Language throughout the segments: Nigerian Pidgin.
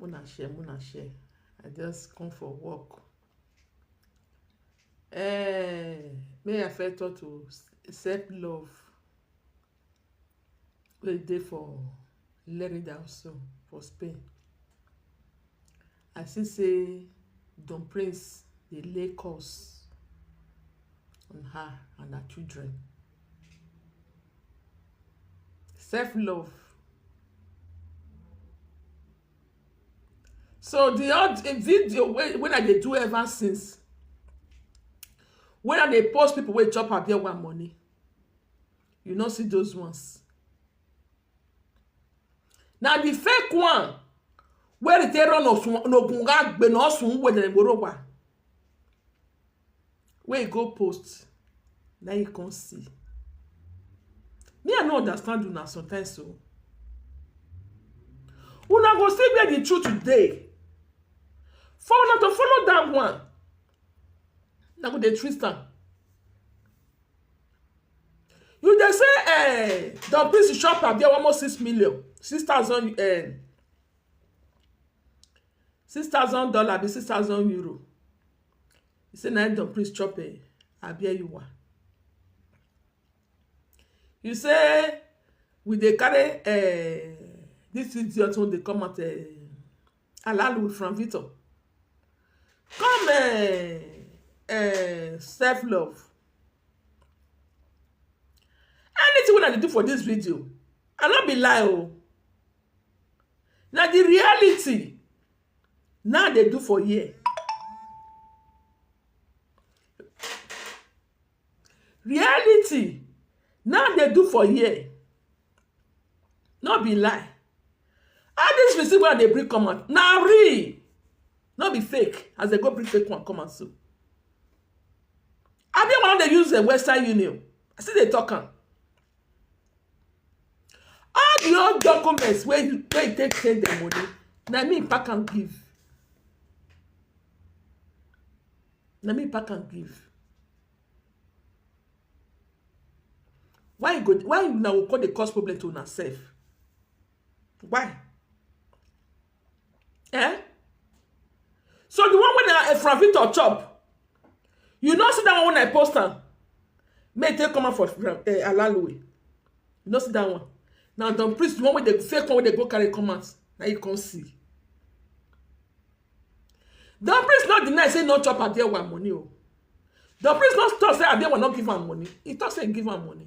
Muna share, muna share. I just come for work. Eh, may I first talk to self love wey dey for Lerida also for Spain. I see say Don Prince dey lay curse on her and her children. Self love So di oda di video wey I dey do ever since wey I dey post pipu wey chop her one money you no see those ones Na di fake one wey dey take run osun ogun wey e go post na im e come see me i no understand una sometimes o una go see where the truth dey for una to follow that one una go dey twist am you dey say um Don peace shop abi almost six million six thousand um six thousand dollar abi six thousand euro e sey na im Don Prince chop um abieyuwa e sey we dey carry um dis idiot wey dey come out um alalu from Victor come um um self love anything wey una dey do for dis video I no be lie oo Na di reality na dey do for here. Reality na dey do for here no be lie. All dis receipt wey I dey bring come out na real no be fake as dey go bring fake one come out so. Abi una wan dey use western union I still dey talk am. All di whole documents wey you take take send dem money na me pack am give na me pack am give why you go why una go come dey cause problem to una self why Eh? So the one when I, from Victor chop, you know see that one when I post am. May take come out for uh, eh, Alaluwe. You know see that one. Now Don Priest, the one with the fake one where they go carry come out. Now you can see. Don Priest not deny say no chop Adewa money o. Oh. Don Priest not talk say Adewa not give am money. He talk say he give am money.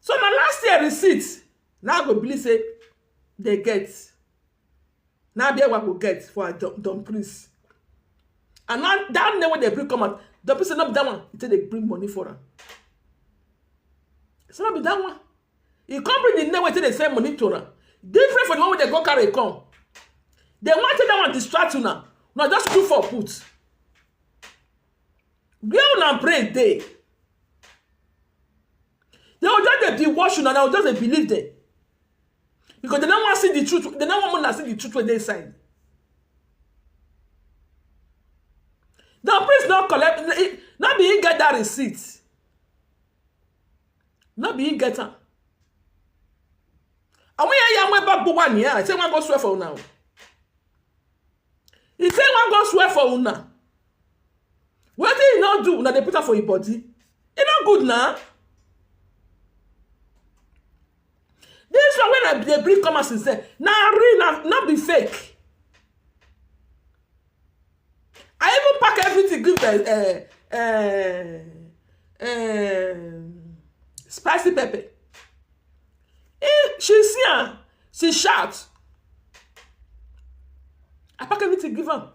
So na last year receipt na im I go believe sey dem get. Na im I be able to get for her Don Don Priest. And na dat name wey dem bring come out, Don Priest say no be dat one e take dey bring money for am. E say no be dat one. E come bring the name wey e take dey send money to am. Different from the one wey dem con carry come. Dem wan take dat one distract una. Una just look for put. where una brain dey they go just dey be watch una na just dey believe them because they no wan see the truth they no wan una see the truth wey dey inside the priest no collect no be him get that receipt no be him get am àwọn yẹn yà wọn bá gbó wà nìyẹn àti wọn go swear for una o he say wọn go swear for una wetin e no do una dey put am for im body e no good na this one wey i dey bring come out since then na real na no be fake i even pack everything give them uh, uh, uh, spicy pepper he, she see am she shout i pack everything give am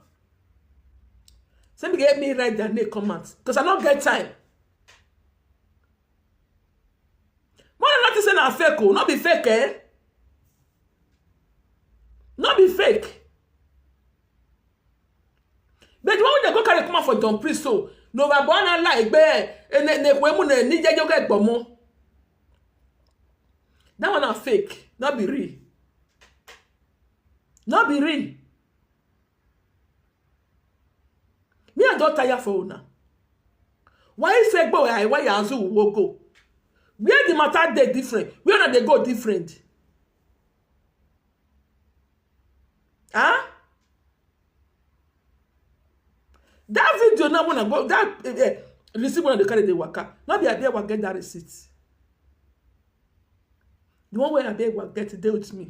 Say me get me write their name come out because I don't get time. More than nothing say na fake oh, not be fake eh? Not be fake. But the one wey dem go carry come out for Don Priest so, no ba born and like be and then they mu na ni jejo get gbomo. That one na fake, not be real. Not be real. Me I don tire for una. Why say go I why azu wo go? Where the matter dey different? Where una dey go different? Huh? That video now when I go that uh, uh, receipt when I dey carry the waka. Not be abeg wa get that receipt. The one where abeg wa get dey with me.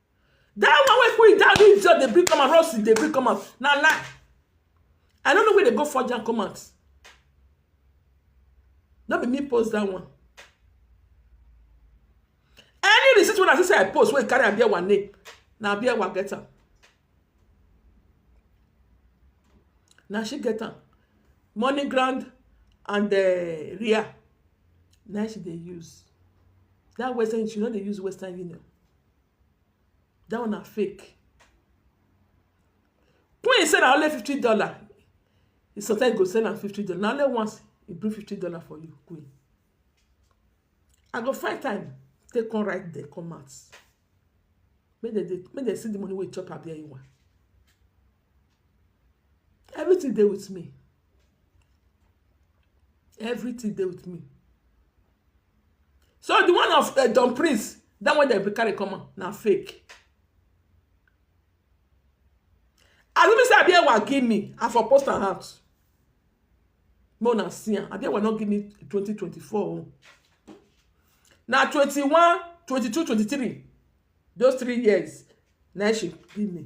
That one wey put it down, this just dey bring come out, Ross dey bring come out. Na lie. I no know where they go forge am come out. No be me post that one. Any receipt wey I see say I post wey carry Abiawa name, na Abiawa get am. Na she get am. Money ground and the real, na she dey use. That Western, she no dey use Western Union. dat one na fake Queen say na only fifty dollar e suggest go sell am fifty dollar na only once e bring fifty dollar for you Queen I go find time take come write dem come out make dem dey make dem see the money wey e chop abi anyone Everything dey with me. Everything dey with me. So the one of um Don Prince, that one dem carry come out na fake. As e be sey Abiyewa give me, I for post am out make una see am. Abiyewa no give me twenty twenty four own. Na twenty one, twenty two, twenty three those three years na im she give me.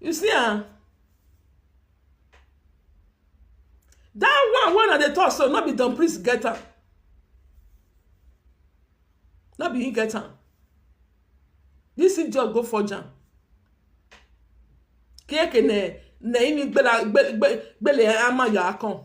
You see am? That one wey una dey talk so no be Don Priest get am. No be him get am. This idiot go forge am. Kiekene na ini gbela gbele gbele ama ya akon.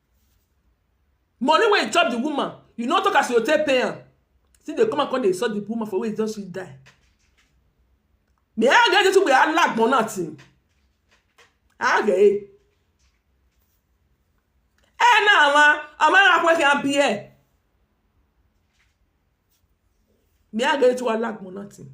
Money wey you chop the woman, you no talk as you go take pay am. Still dey come out con dey insult the woman for where e just fit die. Me I get wetin be alagbon na thing. I get e. E na ama ama na kwe ke a bi e. Me I get wetin be alagbon na thing.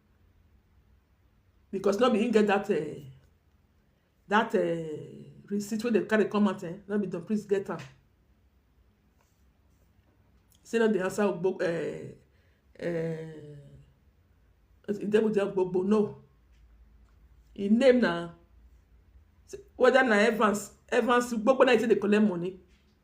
because no be him get that uh, that uh, receipt wey dem carry come out eh, no be don please get am say no dey answer ogbo uh, eh, uh, eh, Ijebuja Ogbogbo no him name na whether na Evans Evans Ogbogbo na him take dey collect money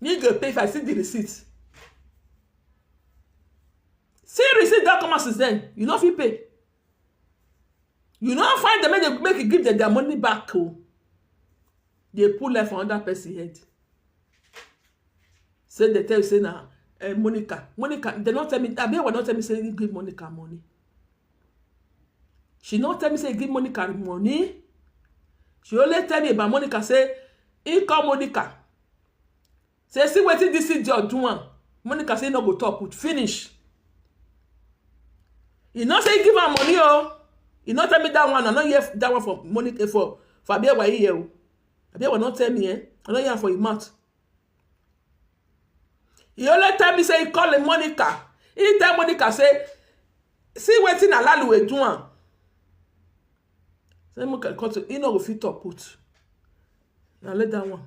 me go pay if i see the receipt see receipt don come out since then you no fit pay you no find them make dem make you give them their money back o oh. dey put life for another person head Say they tell you say na uh, Monica. Monica, they not tell me, Abiola not tell me say he give Monica money. She not tell me say he give Monica money. She only tell me about Monica say, he call Monica. Say, see what this is your doing. Monica say, no go talk with finish. He not say give her money, oh. He not tell me that one. I not hear that one for Monica for for Abiola here. Oh. abi your wife no tell me um I no hear am for im mouth e only tell me say e call Monica e tell Monica say see wetin Alalue do am say Monica come to e no go fit talk put na let that one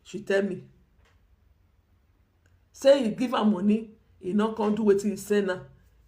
she tell me say e give am money e no come do wetin e send am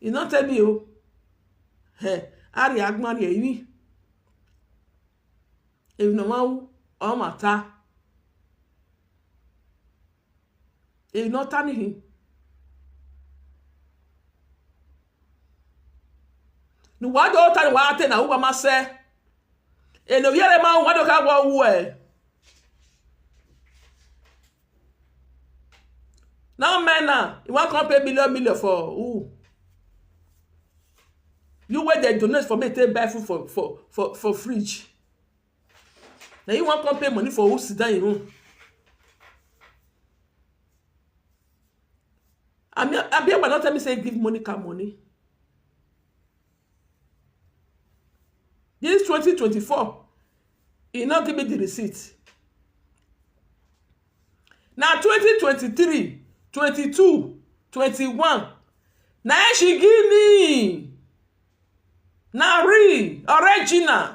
You no tell me o. Hey, Ari Agmari Eyi. Ebi na wan o mata. Ebi no tell me him. ni wa do ta ni wa te na uwa ma se e no yere ma wa do ka wo wu e now men na you wan come pay million million for who you wey dey donate for me take buy food for for for for fridge na you wan come pay money for who sit down im own abi abi ugba don tell me say give Monica money this twenty twenty four he no give me the receipt na twenty twenty three twenty two twenty one na she give me na real original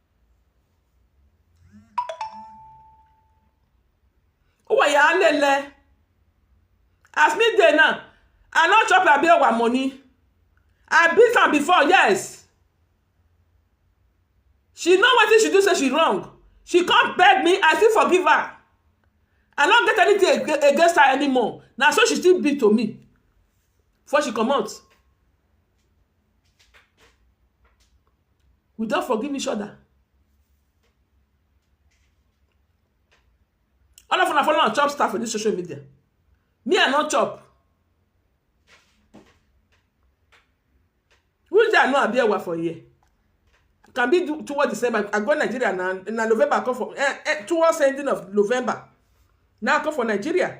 ó wà yà á lẹ́lẹ́ as me dey now i no chop abi owa money i beat am before yes she know wetin she do say she wrong she come beg me i still forgive her i no get anything against her anymore na so she still be to me before she comot we don forgive each other all of una follow am chop star for this social media me i no chop who is there i no abi ewa for here can be do- towards december i go nigeria na na november i come for eh, eh, towards ending of november na i come for nigeria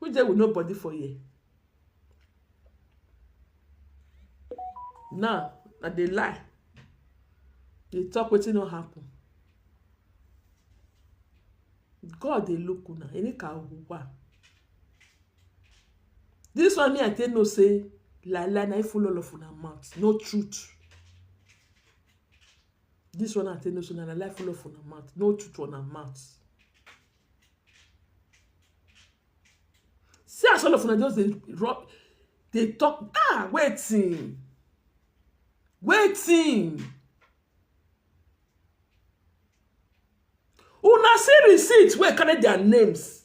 Who dey with nobody for here? Now, I dey lie. Dey talk wetin no happen. God dey look una, any ka wa. This one me I take know say lie lie na full all of una mouth, no truth. This one I take know say na lie full of una mouth, no truth for una mouth. See as all of una just dey rub, dey talk ah wetin, wetin. Una see receipt wey carry their names.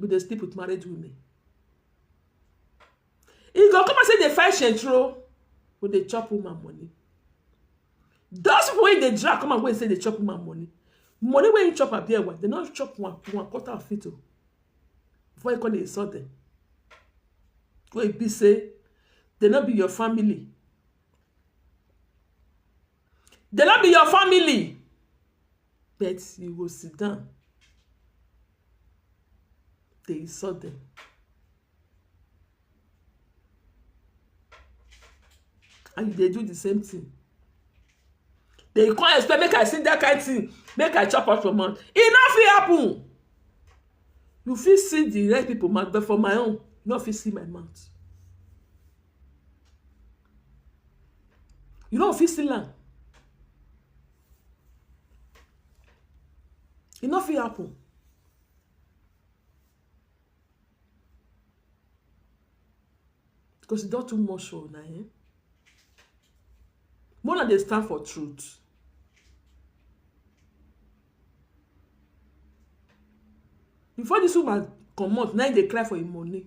go dey sleep with married women e go come out say dey find shentro go dey chop woman money those people wey dey drag come out wey say dey chop woman money money wey he chop abi ewa dey no chop one one quarter of it o before you come dey insult them wey be say dey no be your family dey no be your family but you go sit down dey insult dem. And you dey do the same thing. Den you come expect make I sing that kind thing, make I chop am for mouth. E no fit happen. You fit see the rest people mouth, but for my own, you no fit see my mouth. You no fit seal am. E no fit happen because e don too much for una ehn. Make una dey stand for truth. Before dis woman comot na im dey cry for im money.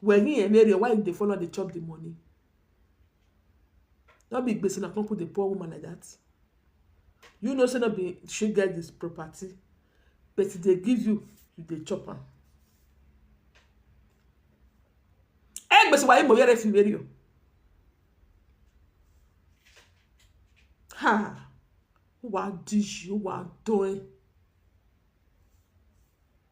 Were in your area why you dey follow am dey chop the money? No be gbese una come put the poor woman like that? You know say no be she get the property but she dey give you, you dey chop am. Ẹ gbese wà yí mo yẹ́rẹ́ fi wéri o. Ha! Ó wá dí ṣe, ó wá dán ẹ́.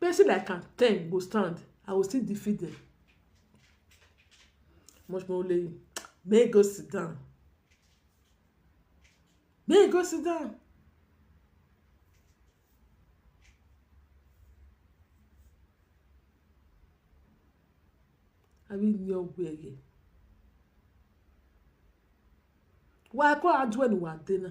Person like am ten go stand, I go still defeat dem. Much more only make e go sit down, make e go sit down. Abi ni o gbe yen. Wa ko a ju eniwa de na.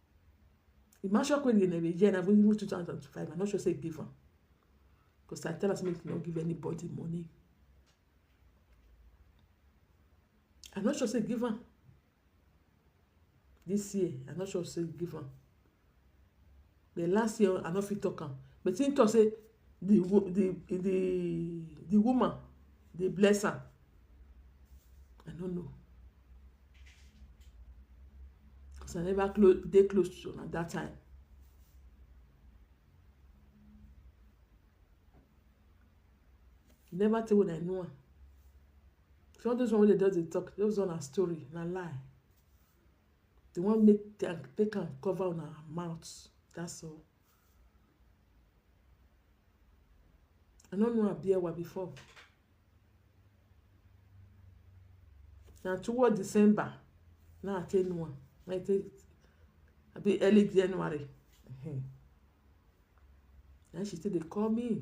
The man shock wey dey dey hear na even two thousand and five I no sure sey e give am because I tell am sey make e no give anybody money I no sure sey e give am this year I no sure sey e give am but last year I no fit talk am but him talk sey the the the the woman dey bless am I no know cause I never close dey close to una dat time. E never tey wey I know am. So all those one wey dey just dey talk, those one na story, na lie. Dey wan make am take am cover una mouth, that's all. I no know Abiewa before. Na toward December na I take know am, na I take abi early January um na im she take dey call me.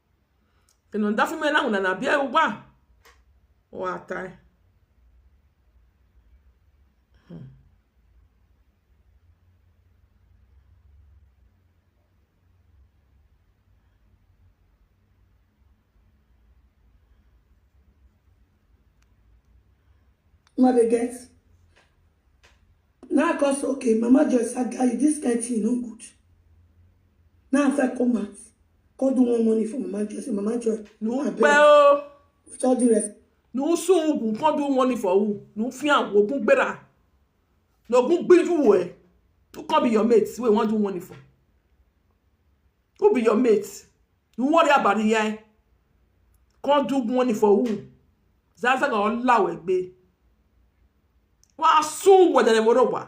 Kino ndafu me na una na bia uba. O atai. Hmm. Una dey get? Now I come say, okay, Mama Joyce, I got you. This kind thing no good. Now I feel come out. Come do one money for Mama Joy. Say, Mama Joy, no abeg. Well, with all due respect. No soon ogun come do money for who? No fear ogun gbera. No ogun gbiju wo e. Who come be your mate? Wey wan do money for? Who be your mate? You worry about the eye. Come do money for who? Zaza ga ola we gbe. Wa soon wo de mo ro wa.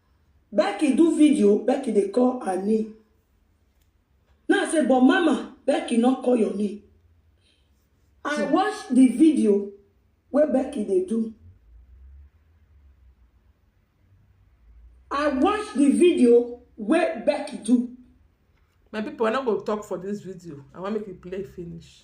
Becky do video, Becky dey call her name. Now I say, but mama, Becky not call your name. I watch the video where Becky they do. I watch the video where Becky do. My people, I not go talk for this video. I want make you play finish.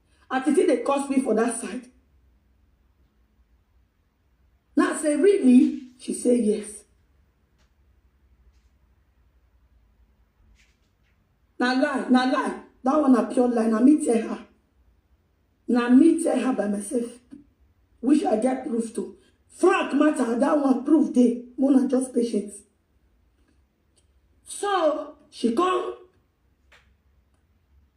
as e still dey curse me for that side na say really she say yes na lie na lie that one na pure lie na me tell her na me tell her by myself which i get proof to frank matter that one proof dey more na just patience So she come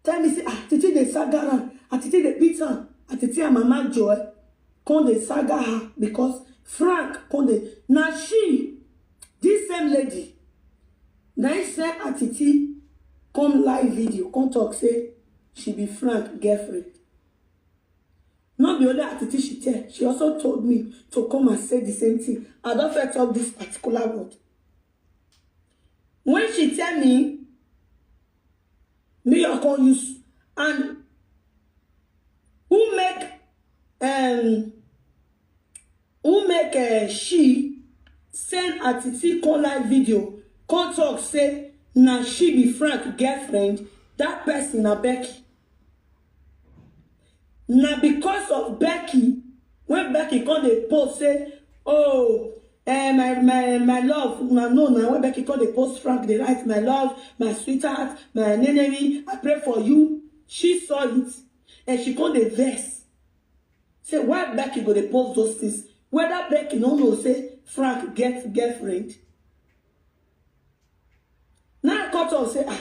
tell me say ah titi dey saga am ah titi dey beat am ah titi and mama joy come dey saga her because frank come dey na she this same lady na im send ah titi come live video come talk say she be frank girlfriend no be only ah titi she tell she also told me to come and say the same thing i don first talk this particular word When she tell me, me I come use and who make um who make uh, she send her titi come live video come talk say na she be Frank girlfriend that person na Becky. na because of becky when becky come dey post say oh eh my my my love una know na when becky come dey post frank dey write my love my sweetheart my nenemi i pray for you she saw it and she come dey vex say why becky go dey post those things whether becky no know say frank get girlfriend now i come talk say ah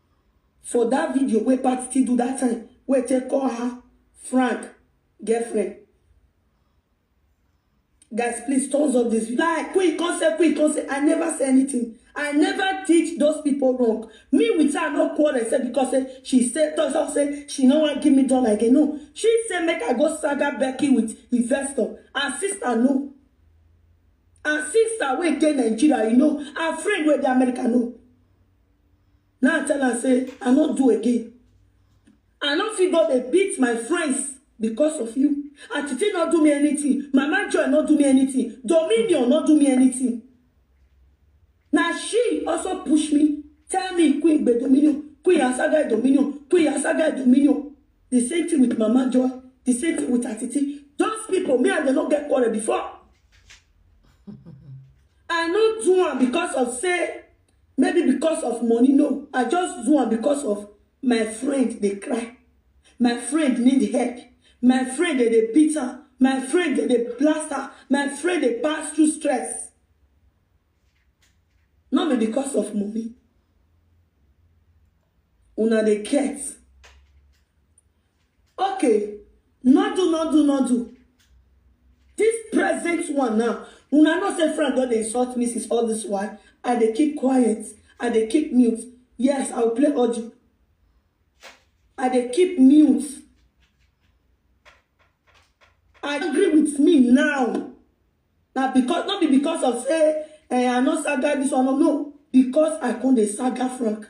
For that video wey Patiti do that time wey take call her Frank girlfriend. Guys, please thumbs up this video. Like, quick, come say, quick, come say. I never say anything. I never teach those people wrong. Me with her no quarrel say because say she say thumbs up say she no wan give me dollar again. No, she say make I go saga Becky with investor. Her sister no. Her sister wey dey Nigeria, you know, her friend wey dey America no. Now I tell am say I no do again. I no fit go dey beat my friends because of you. Atiti no do me anything, Mama Joy no do me anything, Dominion no do me anything. Na she also push me, tell me Queen Gbe Dominion, Queen Asagai Dominion, Queen Asagai Dominion. The same thing with Mama Joy, the same thing with Atiti. Those people, me and them no get quarrel before. I no do am because of say Maybe because of money, no. I just do am because of my friend dey cry. My friend need help. My friend dey dey beat am. My friend dey dey blast am. My friend dey pass through stress. No be because of money. Una dey get. Okay, no do, no do, no do. This present one now, una know say Frank don dey insult me since all this while. I dey keep quiet. I dey keep mute. Yes, I will play audio. I dey keep mute. I agree with me now. Na because no be because of say eh, I no saga this one. No, because I come dey saga Frank.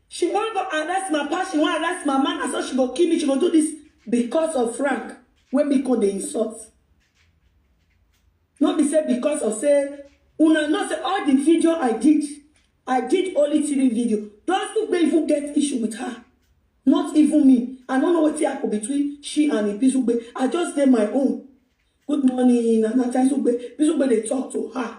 she wan go arrest my papa she wan arrest my man na so she go kill me she go do this because of frank wey me come dey insult no be say because of say una know say all the video i did i did only three video those two wey even get issue with her not even me i no know wetin happen between she and ibizugbe i just dey my own good morning nana taisugbe ibizugbe dey talk to her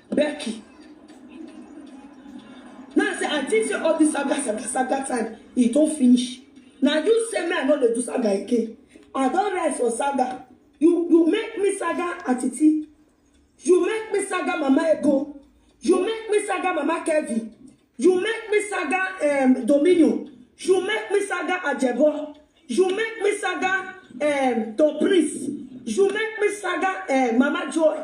Becky. Now I say I think say all this saga saga saga time e don finish. Na you say me I no dey do saga again. I don rest for saga. You you make me saga atiti. You make me saga mama ego. You make me saga mama Kevin. You make me saga um, Dominion. You make me saga Ajebo. You make me saga um, Tom Prince. You make me saga um, Mama Joy.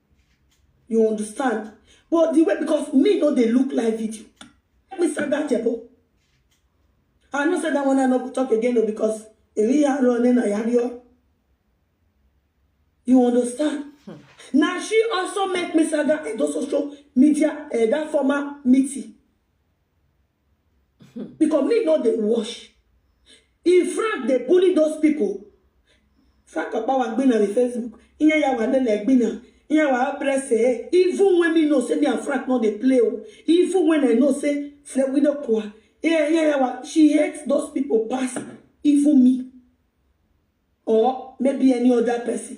You understand? But the way, because me no dey look live video. Let me start that jebo. I know say that one I no go talk again though because Eri Aro and then I have your. You understand? Hmm. Now she also met Mr. That and also show media uh, that former meeting. because me no dey wash in fact dey bully those people fact of power gbina the facebook ihe ya wa nene gbina ihe wa press eh even when me know say me and frank no dey play o even when i know say fred we no kwa ihe ihe ya wa she hates those people pass even me or maybe any other person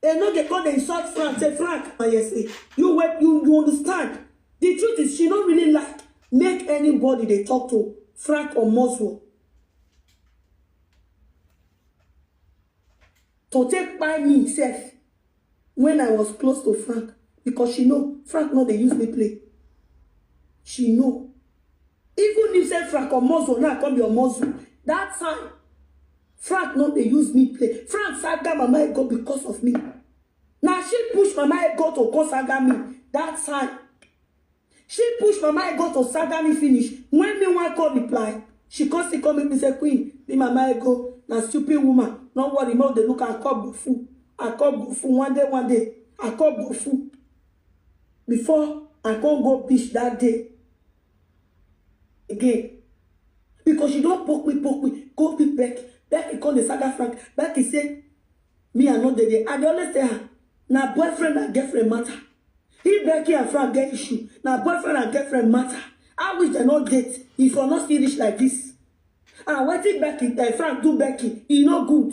They no dey come dey insult Frank. Say Frank, my yes, eh, you wait, you you understand. The truth is, she no really like make anybody dey talk to Frank or Moswo. To take by me sef when I was close to Frank because she know Frank no dey use me play. She know. Even if say Frank or Moswo now come be your Moswo, that time Frank no dey use me play. Frank saga Mama Ego because of me. Na she push Mama Ego to come saga me that time. She push Mama Ego to saga me finish. When me wan come reply, she come still come meet me say, Queen, me Mama Ego na stupid woman. No worry, make we dey look am. I come go full. I come go full. One day, one day, I come go full. Before I come go beach that day. again because she don poke me poke me go pick becky becky come dey saga frank becky say me i no dey there i dey always tell her na boyfriend and girlfriend matter if becky and frank get issue na boyfriend and girlfriend matter i wish dem no date e for no still reach like this and wetin becky uh, frank do becky e no good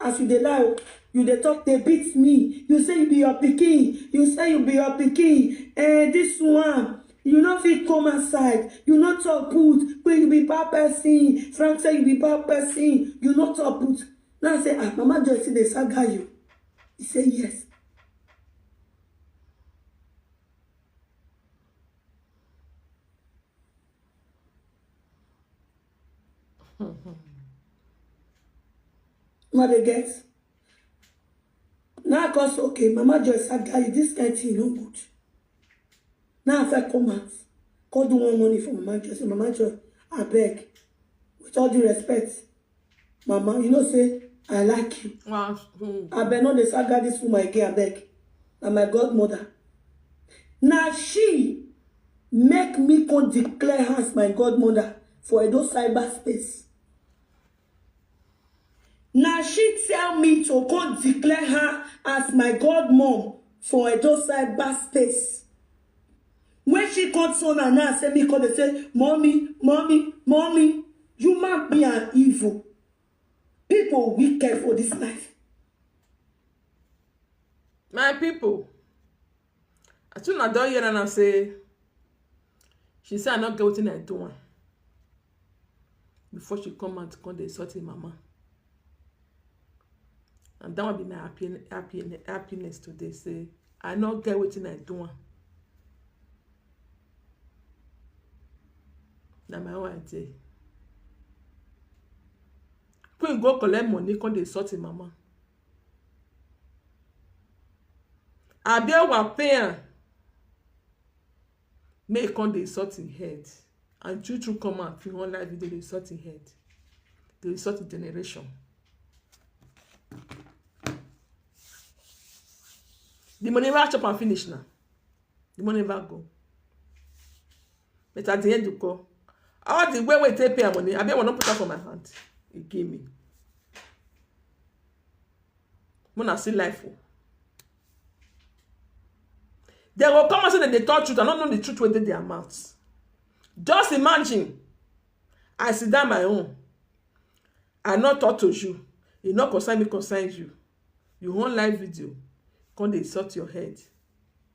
As you dey lie o, you dey talk dey beat me, you say you be your pikin, you say you be your pikin, eh this one, you no fit come outside, you no talk put, wey you be bad person, Frank say you be bad person, you no talk put. Now I say, ah, Mama Joy still dey saga you? He say yes. Now they get. Now I cause okay, Mama Joy said, guy, this kind thing no good. Now if I come out, call do one money for Mama Joy. Say, Mama Joy, I beg. With all due respect, Mama, you know, say, I like you. Wow. Mm. I beg not the saga this woman again, I beg. And my godmother. Now she make me come declare her as my godmother for Edo cyberspace. Now she tell me to come declare her as my godmom for Edo cyberspace. When she come turn her now, say me come dey say, mommy, mommy, mommy, you man be an evil. People wicked for this life. my people I think I don hear am now say she say I no get wetin I do am before she come out come dey insult im mama. And that one be my happy, happy, happiness today say I no get wetin I do am. Na my own I dey. Queen go collect money come dey insult im mama. Abi wan pay am make he come dey insult him head and true true come out for online video dey insult him head dey insult him generation the money never chop am finish na the money never go but at the end you call all the way wey take pay her money abi i wan put am for my hand e give me muna see life o oh. dem go come out say dem dey talk truth i no know the truth wey dey their mouth just imagine i sit down my own i no talk to you e no concern me concern you you wan live video come dey insult your head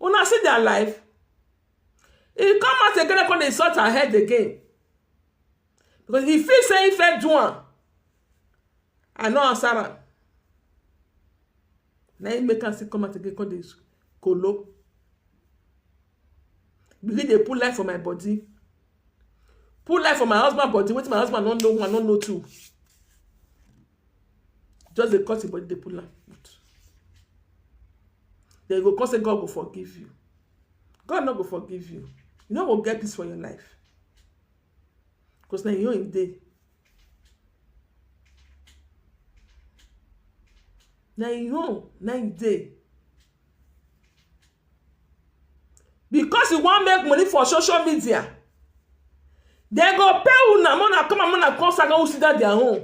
una see their life he come out again and come dey insult her head again because he feel say he fit do am i no answer am na him make am still come out again come dey kolo begin dey put life for my body put life for my husband body wetin my husband no know one no know two just dey cut im body dey pull am put den you go come say God go forgive you God no go forgive you you no go get peace for your life because na your own im dey na im own na im dey because you wan make money for social media dem go pay una make una come and make una come saga who sit down their own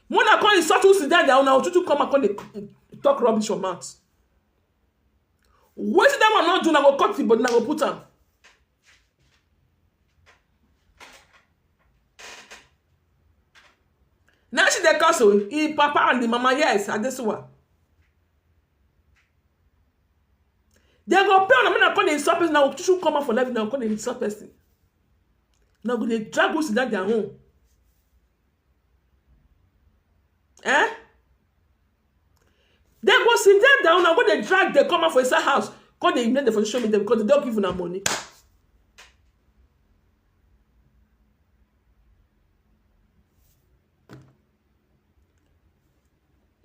make una come insult who sit down their own na otutu come and come dey talk rubbish for mouth wetin that one no do una go cut the body una go put am Now she dey cause o, im papa and im mama, yes, Adesuwa. They go pay una make una come dey insult person, una go choose come out for live, una go come dey insult person. Una go dey drag who sit down their own. Eh? Dem go sit down down una go dey drag dem come out for inside house come dey remain for social media because dem don give una money.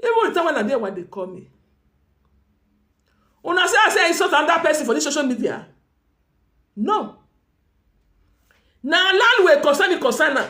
Even the time when I dey when dey call me. Una say I say insult another person for this social media? No. Na land wey concern me concern am.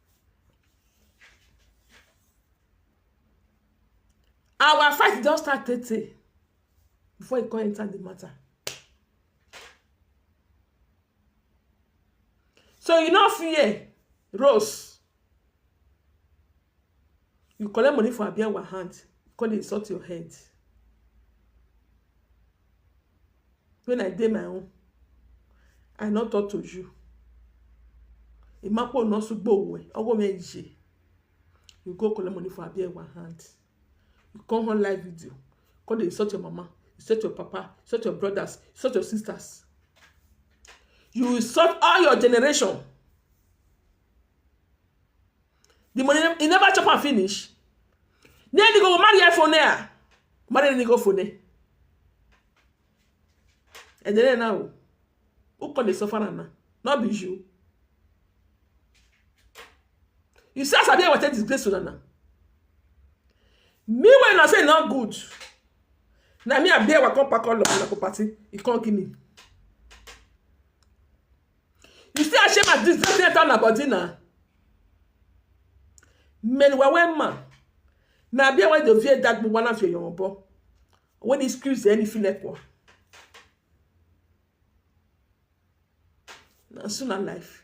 our fight don start tey tey before e come enter the matter so you no fear Rose you collect money for Abiawa hand come dey insult your head when I dey my own, I no talk to you. Imapo no sugbo owe, owo me je. You go collect money for Abiewa hand. You come on live video, come dey insult your mama, insult your papa, insult your brothers, insult your sisters. You insult all your generation. the money he never chop am finish then he go marry iphone there marry any go phone and then now who call the suffer am now not be you you see as i dey wete disgrace una now me wey una say e no good na me i bear wa come pack all of una for party e come give me You see as Shema this this enter na body na. Men wa we ma. Na bia we do vie dag bu wana fie yon bo. When this cruise any file kwa. Na so na life.